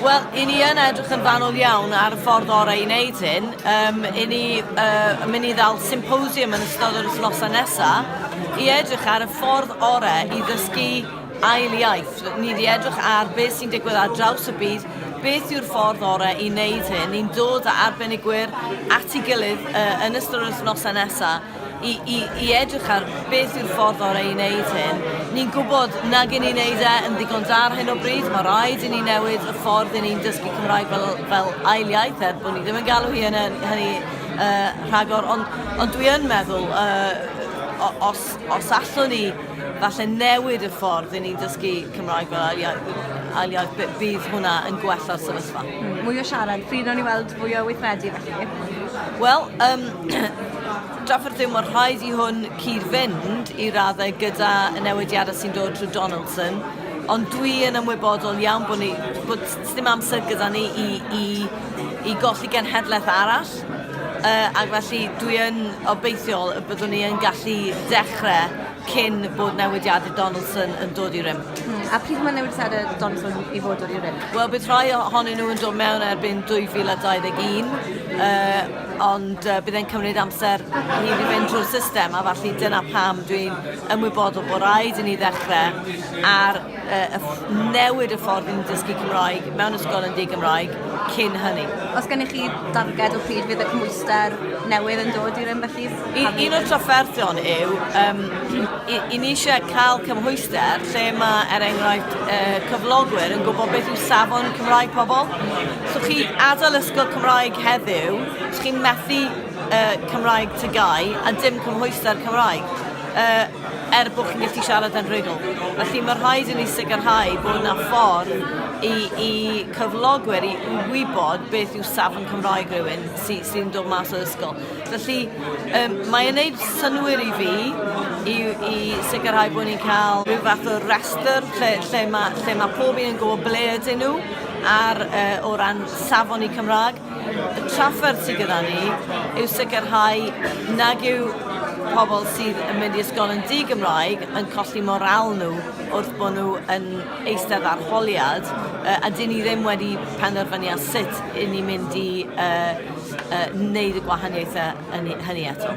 Wel, i ni yn edrych yn fanwl iawn ar y ffordd orau i wneud hyn. Um, i ni uh, yn mynd i ddal symposium yn ystod yr wythnosau nesaf i edrych ar y ffordd orau i ddysgu ail iaith. Ni wedi edrych ar beth sy'n digwydd ar draws y byd, beth yw'r ffordd orau i wneud hyn. Ni'n dod â arbenigwyr at ei gilydd uh, yn ystod yr wythnosau nesaf i, i, i edrych ar beth yw'r ffordd orau i wneud hyn. Ni'n gwybod nag i ni'n wneud e yn ddigon da ar hyn o bryd, mae rhaid i ni newid y ffordd i ni'n dysgu Cymraeg fel, fel ail iaith, er bod ni ddim yn galw hi yn hynny uh, rhagor, ond, ond dwi yn meddwl, uh, os, os allwn ni falle newid y ffordd i ni'n dysgu Cymraeg fel ail iaith, aliad, bydd hwnna yn gwella'r sefyllfa. Mwy o siarad, pryd o'n i weld fwy o weithredu felly? Wel, um, Drafferth yw, mae'n rhaid i hwn cyd-fynd i raddau gyda y newidiadau sy'n dod trwy Donaldson, ond dwi yn ymwybodol iawn bod ni, bod ddim amser gyda ni i, i, i golli genhedlaeth arall, uh, ac felly dwi yn obeithiol y byddwn ni yn gallu dechrau cyn bod newidiadau Donaldson yn dod i rym. Hmm. A pryd mae newidiadau Donaldson i fod dod i rym? Wel, bydd rhai ohonyn nhw yn dod mewn erbyn 2021, uh, ond uh, bydd e'n cymryd amser i ni fynd drwy'r system, a falle dyna pam dwi'n ymwybodol bod rhaid i ni ddechrau ar uh, newid y ffordd ni'n dysgu Cymraeg mewn ysgol yn di-Gymraeg cyn hynny. Os gennych chi darged o pryd fydd y cymwyster newydd yn dod i rym felly? un o'r trafferthion yw, um, i, i ni eisiau cael cymhwyster lle mae, er enghraifft, uh, cyflogwyr yn gwybod beth yw safon Cymraeg pobl. So chi adael ysgol Cymraeg heddiw, so chi'n methu uh, Cymraeg tygau a dim cymhwyster Cymraeg. Uh, er bod chi'n gallu siarad yn rhugl. Felly mae rhaid i ni sicrhau bod yna ffordd i, i cyflogwyr i wybod beth yw safon Cymraeg rhywun sy'n sy dod mas o ysgol. Felly um, mae'n gwneud synwyr i fi i, i sicrhau bod ni'n cael rhyw fath o restr lle, lle mae, lle mae pob un yn gwybod ble ydyn nhw Ar o ran safon y Cymraeg, y trafferth sydd gyda ni yw sicrhau nag yw pobl sydd yn mynd i ysgol yn di-Gymraeg yn colli morâl nhw wrth bod nhw yn eistedd arholiad, a dyn ni ddim wedi penderfynu ar sut 'yn ni'n mynd i wneud y gwahaniaethau hynny eto.